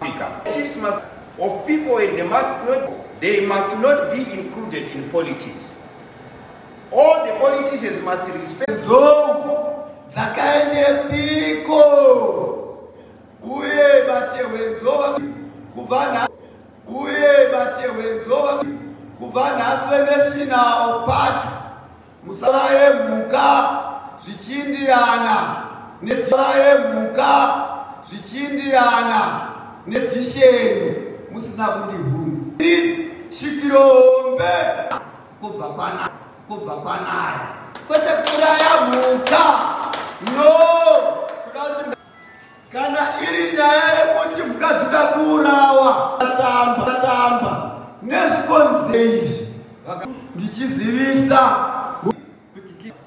Africa. Chiefs must of people and they must not they must not be included in politics. All the politicians must respect Nzou dzakaendepiko uye vatehwenzova kubva nhasi uye vatehwenzova kubva nhasi venational party musaraye mhuka zvichindirana nesaraye mhuka zvichindirana nedhisheni musina kundivhunza svikiro hombe kubva kwana kubva kwanaya kwete kuraya mhuka no Kana iri nyaya yekuti mukadzi uda kuurawa tsamba tsamba nezvikonze izvi ndichizivisa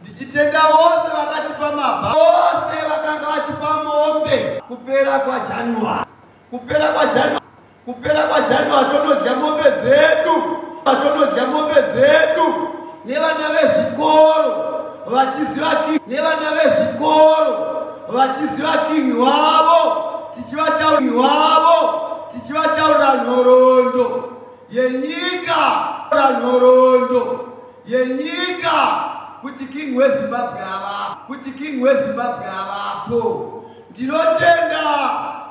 ndichitenda vose vakatipa mabha vose vakanga vatipa mombe kupera kwajanuary kupera kwajanuary Kupera kwaJanuary tonodya mombe dzedu, tonodya mombe dzedu nevana vezvikoro vachiziva king nevana vezvikoro vachiziva king wavo tichivatauri wavo tichivataurira nhoroondo yenyika ra nhoroondo yenyika kuti king wezimbabwe avapo kuti king wezimbabwe avapo Ndinotenda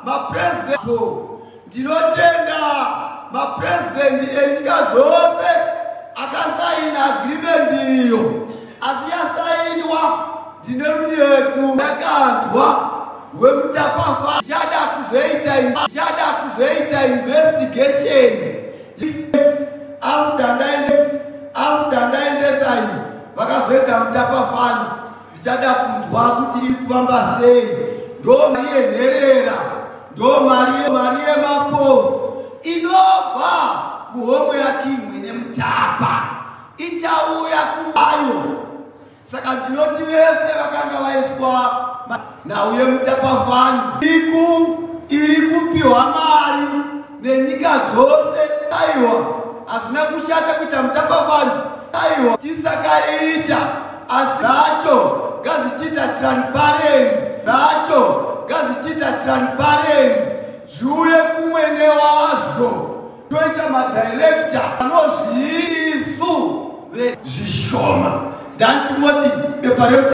mapresident ndinotenda mapresident enyika dzose akasaina agreement iyo asi yasainwa ndine runyeku ndakanzwa wemutapafa chada kuzoita chada kuzoita investigation after ndaendesa after ndaendesa iyi vakazoita mutapa funds ndichada kunzwa kuti iri kufamba sei ndo mari yenherera ndo mari mari yemapofu inobva muhomwe yakimwe nemutapa ichauya kumayo saka ndinoti vese vakanga vaiswa nhau yemutapa fans iku iri kupiwa mari nenyika dzose aiwa hazvina kushata kuita mutapafanzi aiwa tisakaiita asi zvacho ngazvichiita transparency zvacho ngazvichiita transparency zviuye kumwene wazvo toita madirekta anozviisu zvishoma ndantimoti bepa